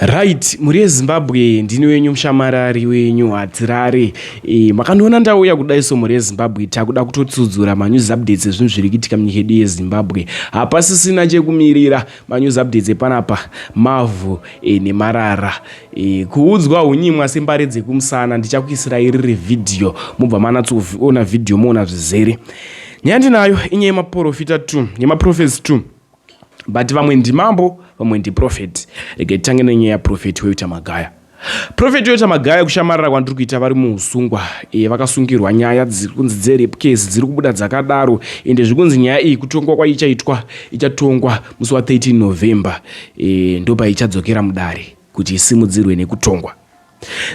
Right, mhuri yeZimbabwe ndini wenyu mushamarari wenyu hadzirare. E, makandiona ndauya kudai so mhuri yeZimbabwe takuda kutotsudzura manews updates ezvinhu zviri kuitika munyika yedu yeZimbabwe. Hapasisina chekumirira manews updates epanapa mavhu e, nemarara. E, kuudzwa hunyimwa sembare dzekumusana ndichakuisira iriri vhidhiyo mobva manatsoona vhidhiyo moona zvizere. Nyaya ndinayo inyaya yemaporofita 2 yemaprofesi 2 but vamwe ndimambo vamwe ndiprofet rega titange nenyaya yaprofet weyoita magaya profet yoita magaya kushamarira kwandiri kuita vari muusungwa e, eh, vakasungirwa nyaya dziri kunzi dzerape case dziri kubuda dzakadaro ende zviri kunzi nyaya iyi kutongwa kwaichaitwa ichatongwa musi wa 13 november e, eh, ndopaichadzokera mudare kuti isimudzirwe nekutongwa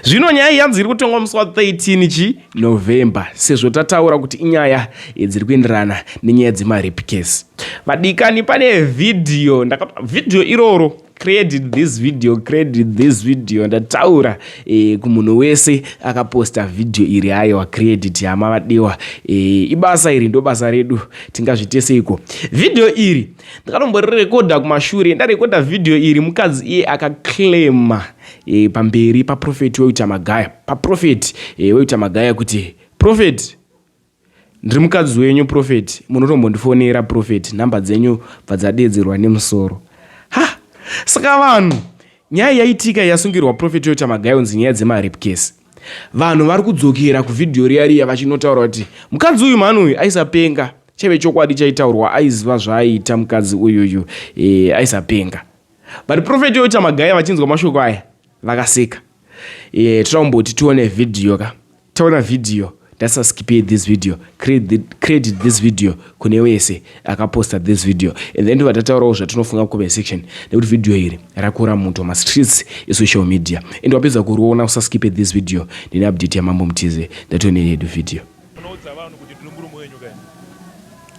zvino nyaya iyi yanzi iri kutongwa musi wa 13 chi november sezvo tataura kuti inyaya dziri kuenderana nenyaya dzemarape case vadikani pane vhidhiyo vhidhiyo iroro credit this video credit this video ndataura e, kumunhu wese akaposta vhidhiyo iri ayewa credit hama vadiwa e, eh, ibasa iri ndobasa redu tingazviteseiko vhidhiyo iri ndakatomborekodha kumashure ndarekodha vhidhiyo iri mukadzi iye akaclaima e, pamberi paprofeti weuta magaya paprofeti e, eh, weuta magaya kuti profeti ndiri mukadzi wenyu profeti munotombondifonera profeti nhamba dzenyu bvadzadeedzerwa nemusoro ha saka vanhu nyaya yaitika yasungirwa profeti weuta magaya unzi nyaya dzemarepkesi vanhu vari kudzokera kuvhidhiyo riya riya vachinotaura kuti mukadzi uyu mhani uyu aisapenga chaive chokwadi chaitaurwa aiziva zvaaiita mukadzi uyuyu e, aisapenga but profeti yotamagaya vachinzwa mashoko aya vakaseka e, tirakumboti tione vhidhiyo ka taona vhidhiyo ndatisaskipei this video credit this video kune wese akaposta this video and then ndova tataurawo zvatinofunga comment section nekuti vhidhiyo iri rakura muto mastreets esocial media and wapedza kuriona usaskipe this video ndine update yamambo mutize ndatione yedu vhidhiyo Munoudza vanhu kuti ndiri murume wenyu ka ini?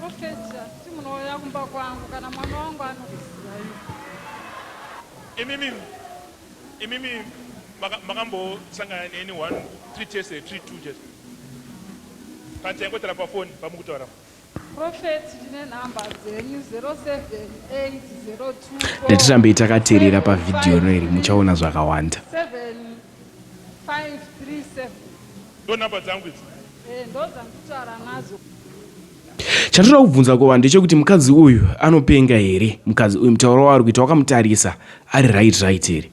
Okay sha, kuti munouya kumba kwangu kana mwana wangu anokuziva iwe. Imimi, imimi maka- makambosangana neni one three chese three two chese. Panzi yaingotara pafoni pamukutaura. Prophet ndine number dzenyu 078024. Ndatirambe itakaterera pa video no iri muchaona zvakawanda. 7537. Ndo number dzangu idzi. Eh ndo dzanditaura nadzo. Chatoda kubvunza kuva ndechekuti mukadzi uyu anopenga here mukadzi uyu mutauro waari kuita wakamutarisa ari right right here.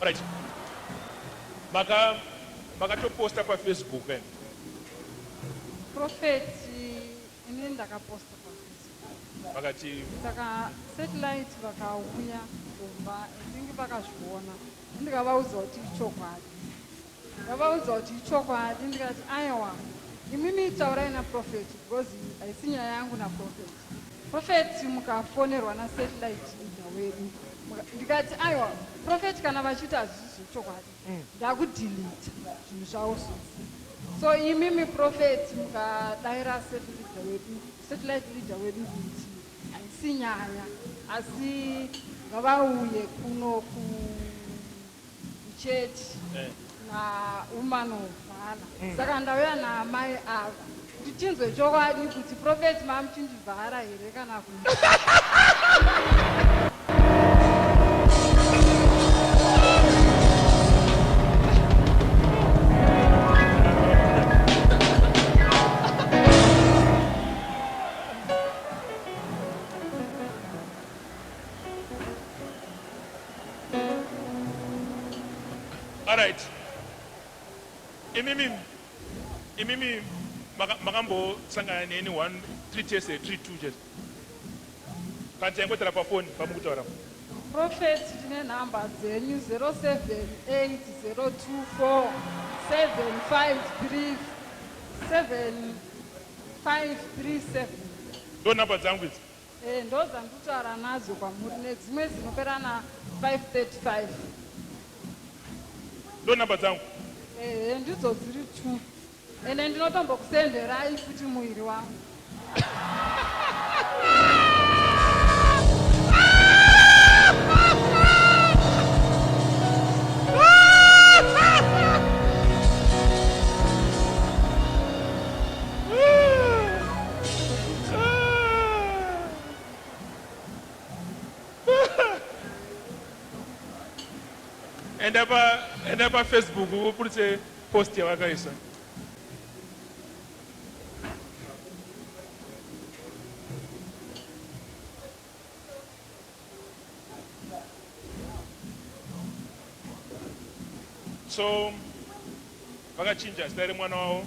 Alright. Maka makatoposta pafacebook eh? Prophet ini ndakaposta pafacebook. Vakati saka satellite vakauya kumba I think vakazviona ndikavaudza kuti ichokwadi. Ndakavaudza kuti ichokwadi ndikati aewa imimi taurai naProphet because iyi haisi nyaya yangu naProphet. Prophet mukafonerwa naSatellite leader wedu ndikati aewa Prophet kana vachiti hazvisi zvechokwadi mm. ndakudilita zvinhu zvavo zvose so imimi Prophet mukadaira Satellite leader wedu kuti haisi nyaya asi ngavauye kuno ku church eh. na woman of vana mm. saka ndauya naamai ava kuti tinzwe chokwadi kuti prophet mamuchindivhara here kana ku Alright. Imimi imimi makambosangana neni one three tese eh, three two chete kana taingotara pafoni pamukutaura prophet tine nhamba dzenyu 0780247537 ndo nhamba dzangu idzi Eh, ndodzandutaura nadzo kwamuri nedzimwe dzinopera na 535 ndo number dzangu ehe ndidzo dziri two ende ndinotombokusenderai futi muviri wangu enda pa enda pa Facebook upulitse post yawakaisa so vakachinja zita remwana wavo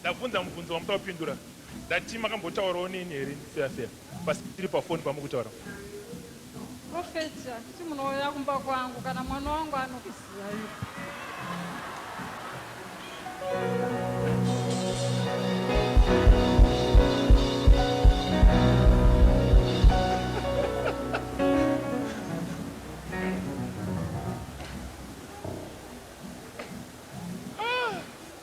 Ndabvunza mubvunzo wamuda kupindura ndati makambotaurawo neni here ndiseya seya pasi tiri pafoni pamukutaura. Prophet handiti munouya kumba kwangu kana mwana wangu anokuziva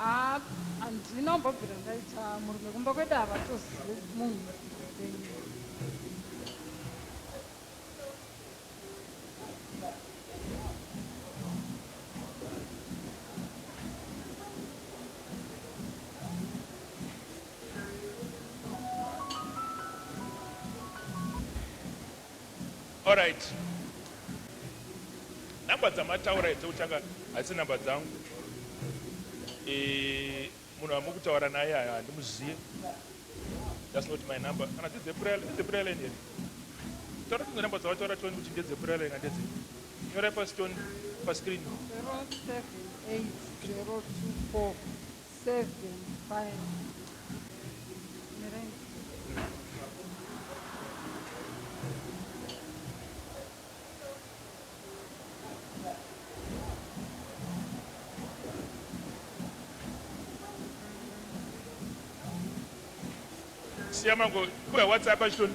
Haa handina kumbobvira ndaita murume kumba kwete havatozive munhu Alright. Number dzamataura idzi uchaka hasi number dzangu. Eh munhu amukutaura naye aya handimuziye. That's not my number. Kana dzidze prayer, dzidze prayer line here. Taura dzimwe number dzawataura toni kuti ndedze prayer line ndedze. Nyora pa stone pa screen. 078 024 Seven, five. Mirenje. siya mango kuya whatsapp achitoni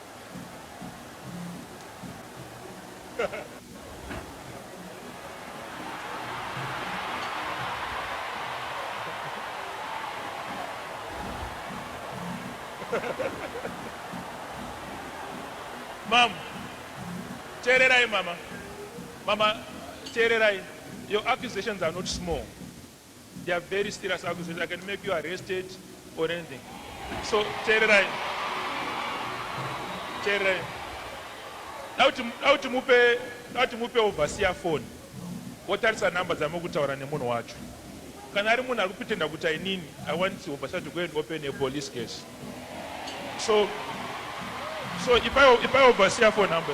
Mom, teererai mama. Mama, teererai. Your accusations are not small. They are very serious akuzoita they can make you arrested or anything. So teererai. Teererai. Dauti dauti mupe dauti mupe overseer phone. Wotarisa number dzamuri kutaura nemunhu wacho. Kana ari munhu ari kutenda kuti inini I want overseer to go and open a police case. So so ipai ipai overseer phone number.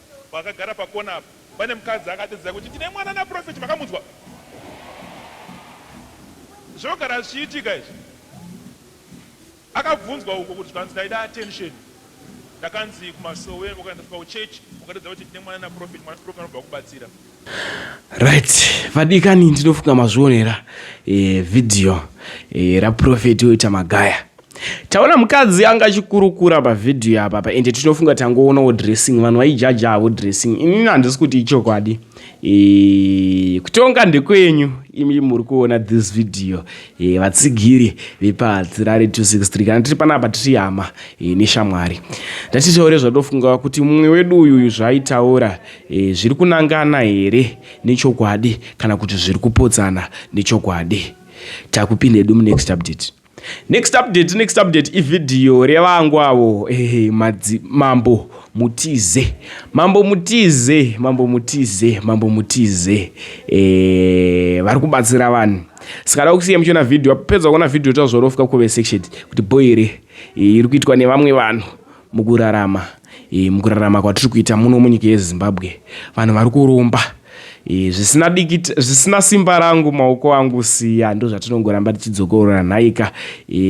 Vakagara pacorner apa pane mukadzi akadedzera kuti ndine mwana naprophet makamunzwa zvogara zvichiitika izvi akabvunzwa uko kuti zvikanzi ndaida attention ndakanzi kumasowe ukaenda kuchurch ukadedza kuti ndine mwana naprophet mwana prophet anobva akubatsira Right, vadikani ndinofunga mazvionera e, video e, raprofeti oita magaya taona mukadzi anga achikurukura pavhidhiyo apa pa ende tinofunga tangoonawo dressing vanhu vaijaja havo dressing inini handisi kuti ichokwadi e, kutonga ndekwenyu imi muri kuona this video e, vatsigiri vepadzirare 263 kana tiri panapa tiri hama e, neshamwari ndatitaure zvatinofunga kuti mumwe wedu uyuyu zvaaitaura E, zviri kunangana here nechokwadi kana kuti zviri kupodzana nechokwadi? Takupinda hedu munext update. Next update, next update ivhidhiyo revangu avo eh, madzi, mambo mutize mambo mutize mambo mutize mambo mutize eh, vari kubatsira vanhu sikada kusiya muchiona vhidhiyo apedza kuona vhidhiyo tazvorofika kuve section kuti boy here eh, iri kuitwa nevamwe vanhu Mukurarama mukurarama kwatiri kuita muno munyika yezimbabwe vanhu vari kuromba zvisina dikita zvisina simba rangu maoko angu siya ndozvatinongoramba tichidzokorora nhaika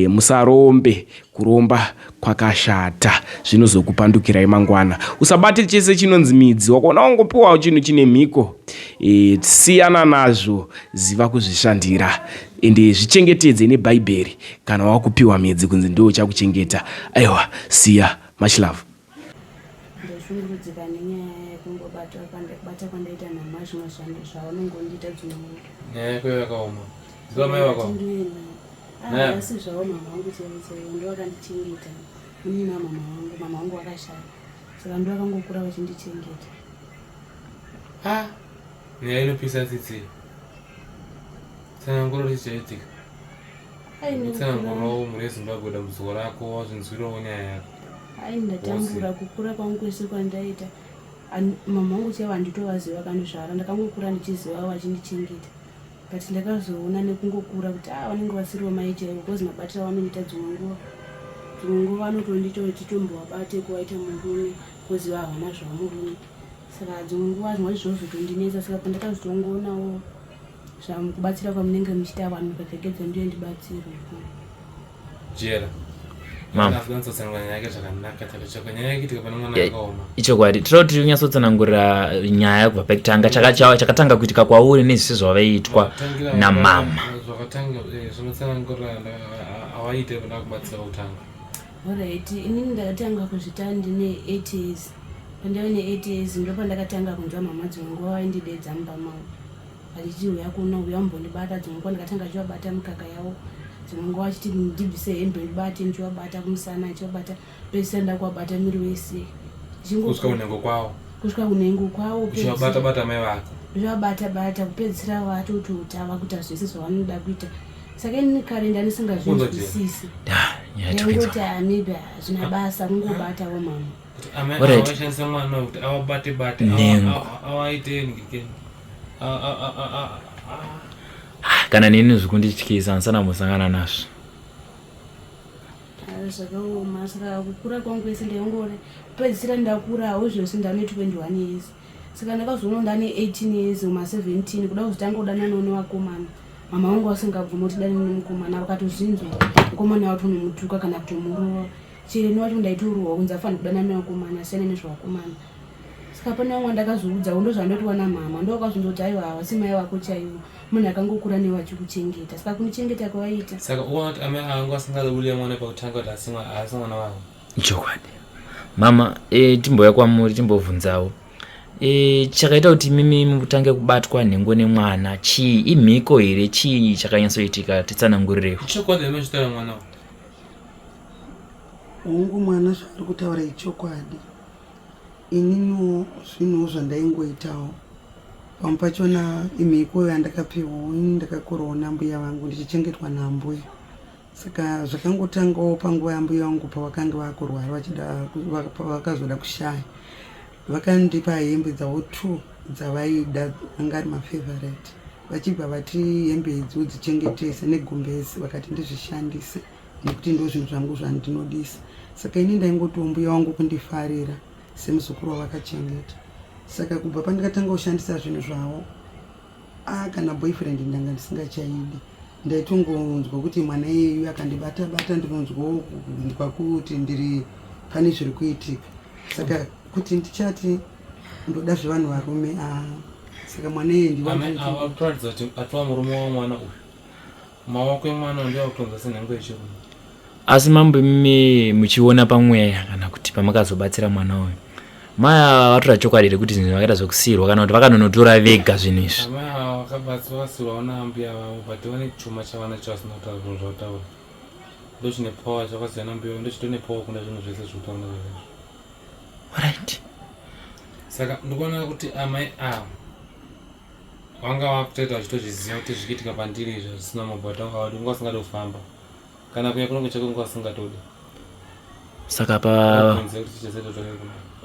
musarombe kuromba kwakashata zvinozokupandukirai mangwana usabate chese chinonzi midzi wakaona wangopiwawo chinhu chine mhiko e, siyana nazvo ziva kuzvishandira ende zvichengetedze nebhaibheri Kana wakupiwa mhedzi kunzi ndiwo uchakuchengeta aiwa siya much love. Ndoshungurudzika nenyaya yekungobata kubata kwandaita nhama zvimwe zvanhu zvaunongondiita dzimwe nguva. Nyaya yako yakaoma. Ziva mai vako. Ah, asi zvavo mama wangu chaivo chaivo ndivo vakandichengeta. Ini mama wangu mama wangu wakashaya. Saka ndivo vakangokura vachindichengeta. Ah, nyaya inopisa tsitsi. tsananguro richichaitika tsanangurawo mhuri yezimbabwe dambudziko rako wazvinzwirawo nyaya yako hai ndatambura kukura kwangu kwese kwandaita mama wangu chaivo handitovaziva kanizvara ndakangokura ndichiziva vachindichengeta but ndakazoona nekungokura kuti a ah, vanenge vasiriwo mai chaivo bcause mabatira vanoita dzimwe nguva dzimwe nguva anotondiita vachitombovabate kuvaita murume koziva havana zvamurume saka dzimwe nguva zvinwa zvozotondinetsa saka pandakazotongoonawo zvamukubatsira kwamunenge muchita vanhu mukapfekedza ndiyo ndibatsirwe jera ichokwadi tinoda kuti unyatsotsanangurira nyaya kubva pakutanga chakatanga kuitika kwauri nezvese zvavaitwa namama orit inini ndakatanga kuzvita ndine eight years pandave ne eight years ndopandakatanga kunzwa mhamha dzimwe nguva vaindidedza mumba mavo vachiti uya kuno uya umbondibata dzimwe nguva ndikatanga chivabata mikaka yavo dzimwe nguva vachiti ndibvise hembe ndibate ndichivabata kumusana ndichivabata pese nda kuvabata miri wese kusvika kunhengo kwavo kusvika kunhengo kwavo uchivabata bata mai vako zvavabata bata kupedzisira vatoti kuti ava kuita zvese zvavanoda kuita saka ini kare ndanisingazvinzwisisi yangoti maybe hazvina basa kungobatawo mama kana nini zvikundityisa ndisana musangana nazvo zvakaoma saka kukura kwangu kwese ndaingori pedzisira ndakurawo izvozvi ndane 21 years saka ndakazoona ndane 18 years uma 17 kuda kuzotanga kudananawo nevakomana mama wangu vasingabvuma kuti dani nemukomana vakatozvinzwa mukomana watonomutuka kana kutomurova chero ini wacho ndaitorohwa kunzi afanira kudana nevakomana asiyana nezvevakomana saka pane vamwe ndakazoudzawo ndozvandoti wana mhama ndovakazondoti aiwa havasi mai vako chaivo munhu akangokura newe achikuchengeta saka kumuchengeta kwavaita saka uona kuti amai angu asingazobulia mwana pakutanga kuti asi mwana wavo chokwadi mama e, timbouya kwamuri timbobvunzawo e, chakaita kuti mimi mutange kubatwa nhengo nemwana chii imhiko here chii chakanyatsoitika titsanangurirewo chokwadi amai zvitaura mwana Hongu mwana zvaari kutaura ichokwadi. Ininiwo zvinhuwo zvandaingoitawo pamwe pachona imhiko yandakapiwawo ini ndakakorawo nambuya vangu ndichichengetwa naambuya saka zvakangotangawo panguva yambuya vangu pavakange vakurwara vachida vakazoda kushaya vakandipa hembe dzavo two dzavaida anga ari mafavorite vachibva vati hembe idzi udzichengetese negumbezi vakati ndizvishandise nekuti ndozvinhu zvangu zvandinodisa saka ini ndaingotiwo mbuya wangu kundifarira semuzukuru wavakachengeta saka kubva pandikatanga kushandisa zvinhu zvavo a kana boyfriend ndanga ndisingachaidi ndaitongonzwa kuti mwana iyeyu akandibata bata ndinonzwawo kunzwa kuti ndiri pane zviri kuitika saka kuti ndichati ndoda zvevanhu varume a saka mwana iye ndiwatoratidza kuti atova murume wamwana uyu Maoko emwana uyu ndoakutonza senhengo yechirume. Asi mambo imi muchiona pamweya kana kuti pamakazobatsira mwana uyu maya vatora chokwadi rekuti zvinhu vakaita zvekusirwa kana kuti vakanonotora vega zvinhu izvi Amai ava vakabatsirwa vasirwawo naambuya vavo but vane chuma chavana chavasina kutaura zvinhu zvavataura ndochine power chakasiyana mbuya vavo ndochitone power kunda zvinhu zvese zviri kutaura nezvazvo right saka ndikuona kuti amai ava wanga wakutoita uchitozviziva kuti zvikiitika pandiri izvo zvisina mabota wanga wadi unga usingadi kufamba kana kuya kunenge chako unga usingatodi saka pa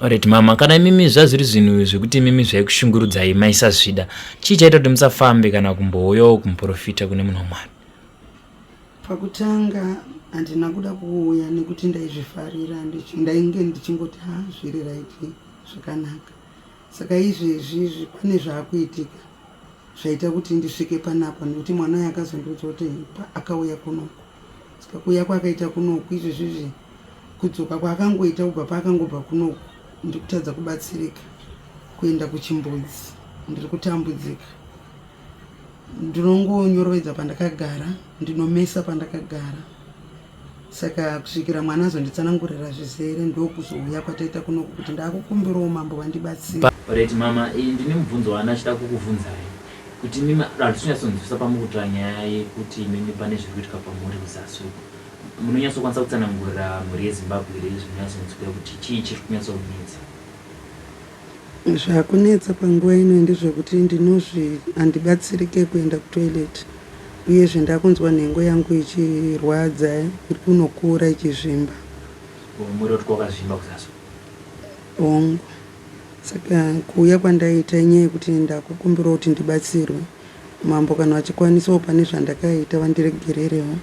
orit mama kana imimi zvazviri zvinhu zvekuti imimi zvaikushungurudzai maisazvida chii chaita kuti musafambe kana kumbouyawo kumuprofita kune munhu wamwari pakutanga handina kuda kuuya nekuti ndaizvifarira ndainge ndichingoti ha zviri raiti zvakanaka saka izvezvi izvi pane zvaakuitika zvaita kuti ndisvike panapa nekuti mwana uyo akazondiudza kuti akauya kunoku saka kuuya kwaakaita kunoku izvezvi izvi kudzoka kwaakangoita kubva paakangobva kunoku ndiri kutadza kubatsirika kuenda kuchimbudzi ndiri kutambudzika ndinongonyorovedza pandakagara ndinomesa pandakagara saka kusvikira mwana azonditsanangurira zvizere ndokuzouya kwataita kunoku kuti ndaakukumbirawo mambo vandibatsira Alright mama, eh, ndine mubvunzo wandachida kukubvunzai kuti mimi hatichonyatsonzwisisa pamukutora nyaya yekuti imimi pane zviri kuitika pamhuri kuzasi uko munonyatsokwanisa kutsanangurira mhuri yeZimbabwe here zvinonyatsonzwika kuti chii chiri kunyatsokunetsa Zvakunetsa panguva ino ndezvekuti ndinozvi handibatsirike kuenda kutoilet uyezve ndakunzwa nhengo yangu ichirwadza iri kunokura ichizvimba. Umm muroti kwakazvimba kusaso. Hongu saka kuuya kwandaita inyaya yekuti ndakukumbirawo kuti ndibatsirwe mambo kana vachikwanisawo pane zvandakaita vandiregererewo.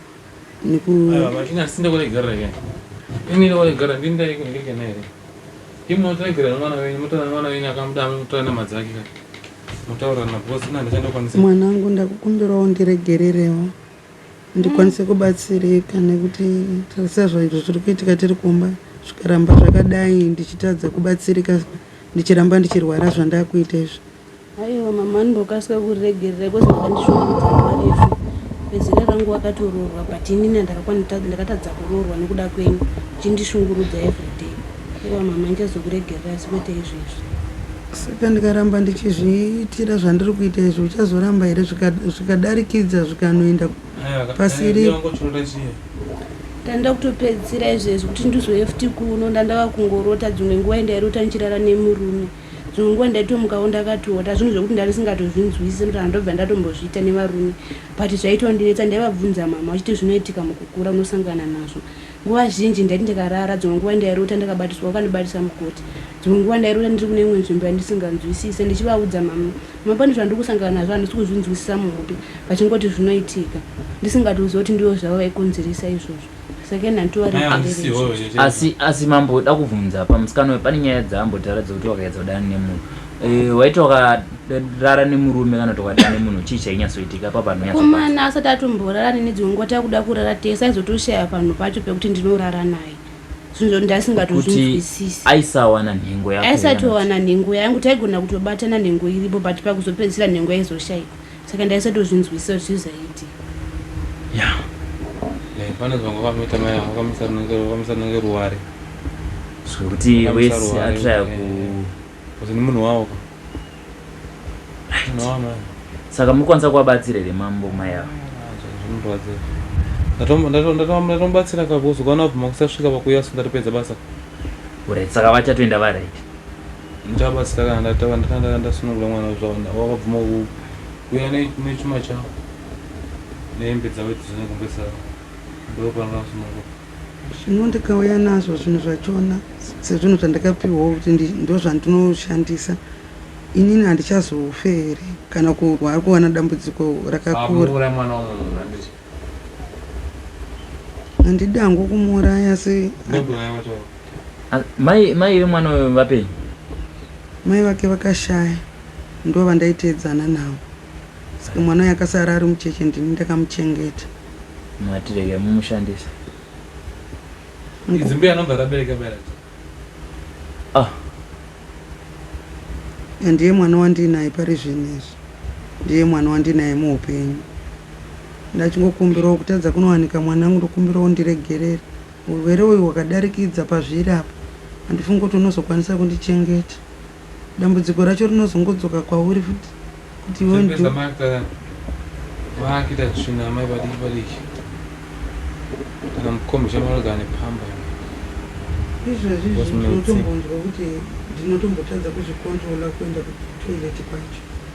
mwanangu ndakukumbirawo ndiregererewo ndikwanise kubatsirika nekuti tarisa zvaizvo zviri kuitika tiri kumba zvikaramba zvakadai ndichitadza kubatsirika ndichiramba ndichirwara zvandakuita izvi Aiwa mama ndokasika kuriregerera because ndakandishungurudza nguva refu. Bezera rangu wakatoroorwa but inini ndakatadza kuroorwa nekuda kwenyu chindishungurudza everyday. Aiwa mama ndichazokuregerera asi kwete izvezvi. Saka ndikaramba ndichizviitira zvandiri kuita izvi uchazoramba here zvikadarikidza zvikanoenda pasiri? Ndanda kutopedzisira izvezvi kuti ndizoe futi kuno ndandava kungorota dzimwe nguva ndairota ndichirara nemurume. Dzimwe nguva ndaitomukawo ndakatota zvinhu zvekuti ndarisingatozvinzwisise ndoto kana ndobva ndatombozviita nevarume but zvaitondinetsa ndaivabvunza mama vachiti zvinoitika mukukura unosangana nazvo nguva zhinji ndaiti ndikarara dzimwe nguva ndairota ndakabatiswa vakandibatisa mukoti dzimwe nguva ndairota ndiri kune imwe nzvimbo yandisinganzwisise ndichivaudza mama mama pane zvandiri kusangana nazvo handisi kuzvinzwisisa muhope vachingoti zvinoitika ndisingatoziva kuti ndivo zvavo vaikonzeresa izvozvo asi asi mambo da kubvunza pamusikana uyu pane nyaya dzaambotaura dzokuti wakaedza kudana nemunhu eh, waiti wakarara nemurume kana kuti wakadana nemunhu chii chainyatsoitika pa panhukumana asati atomborarani nedzimwe nguva takuda kurara tese aizotoshaya panhu pacho pekuti ndinorara naye zvinhu zvandasingatozvinzwisisi aisawana nhengo yaaisatowana nhengo yangu taigona kutobata nanhengo iripo but pakuzopedzisira nhengo yaizoshaika saka ndaisatozvinzwisisa kuti zvii zvaiti ya panonzi vanga vanoita mai avo vakamisa nenge ruware zvekuti wese atraya ku kuti ni munhu wavo saka mukwanisa kuvabatsira here mambo mai avo ndatomubatsira kakuzokaona bvuma kusasvika pakuyasu ndatopedza basa urit saka vachatoenda varit Ndichabatsira kana ndatava ndakandaka ndasunungura mwana wezvaona wakabvuma kuuya nechuma chavo nehembe dzavo dzine kumbe saka ndokupanga vasunungura zvino ndikauya nazvo zvinhu zvachona sezvinhu zvandakapiwawo kuti ndo zvandinoshandisa inini handichazofe here kana kurwara kuwana dambudziko rakakura mwana wamunhu handidi hangu kumuuraya asi mai mai vemwana uyo vapei mai vake vakashaya ndo vandaiteedzana navo saka mwana uyo akasara ari mucheche ndini ndakamuchengeta matirege mumushandisa idzimbuya anobva rabereka bereka Ah. Ndiye mwana wandinaye pari zvinezvi. Ndiye mwana wandinaye muupenyu. Ndachingokumbirawo kutadza kunowanika mwana wangu ndokumbirawo ndiregerere. Urwere uyu hwakadarikidza pazviri apa. Handifungi kuti unozokwanisa kundichengeta. dambudziko racho rinozongodzoka kwauri futi kuti iwe Zvekuedza ndo- mai kutadza vaakita tsvina amai vadiki vadiki kana mukombi chamarogana nepamba izvozvi Boss izvi Meltzer. ndinotombonzwa kuti ndinotombotadza kuzvikontrola kuenda kutoilet kwacho